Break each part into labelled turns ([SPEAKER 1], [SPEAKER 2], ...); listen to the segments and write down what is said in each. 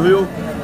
[SPEAKER 1] هيو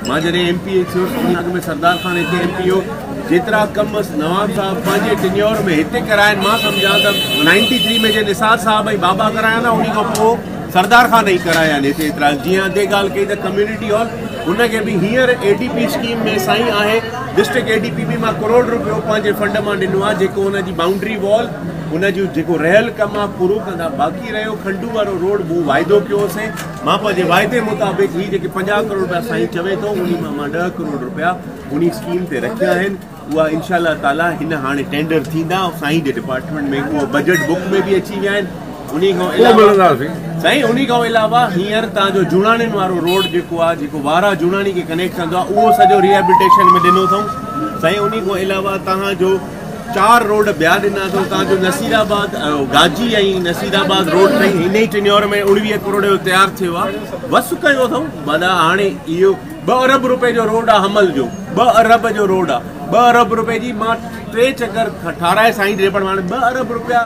[SPEAKER 1] مان جڏهن M P A ٿيو ته ان اڳ ۾ سردار خان هتي ايم پي هيو جيترا ڪم نواب صاحب پنهنجي ٽينيور ۾ هتي ڪرايا آهن مان سمجهان ته نائنٽي ٿري ۾ جي نثار صاحب ۽ بابا ڪرايا نه ان کان پوء سردار خان ئي ڪرايا آهن هتي ايترا جيئن اڳي ڳالهه ڪئي ته ڪميونٽي هال ان کي به هينئر اي ڊي پي اسڪيم ۾ سائين آهي ڊسٽرڪٽ اي ڊي پي به مان ڪروڙ روپيو پنهنجي فنڊ مان ڏنو آهي جيڪو ان جي بائونڊري وال ان جو جيڪو رهيل ڪم آهي پورو ڪندا باقي رهيو کنڊو وارو روڊ مون واعدو ڪيو هوسين مان پنهنجي واعدي مطابق هي جيڪي پنجاهه ڪروڙ رپيا سائين چوي ٿو انهي مان مان ڏهه ڪروڙ رپيا انهي اسڪيم تي رکيا آهن اها انشاء الله تعالي هن هاڻي ٽينڊر ٿيندا سائين جي ڊپارٽمينٽ ۾ اهي بجيٽ بڪ ۾ به اچي ويا آهن انهي کان علاوه سائين انهي کان علاوه هينئر تان جو جوڻاڻين وارو روڊ جيڪو آهي جيڪو وارا جوڻاڻي کي ڪنيڪٽ ڪندو آهي اهو سڄو ريهيبلٽيشن ۾ ڏنو اٿئون سائين انهي کان علاوه توهان جو چار روڊ ٻيا ڏنا اٿئون تان جو نصير آباد گاجي ۽ نصير آباد روڊ ٽئي هن ئي ٽينيور ۾ اوڻويهه ڪروڙ جو تيار ٿيو آ وس ڪيو اٿئون معنيٰ هاڻي اهو ٻه ارب روپئي جو روڊ آ حمل جو ٻه ارب جو روڊ آ ٻه ارب روپئي جي مان ٽي چڪر ٺاراهي سائين ڏي پر هاڻي ٻه ارب روپيا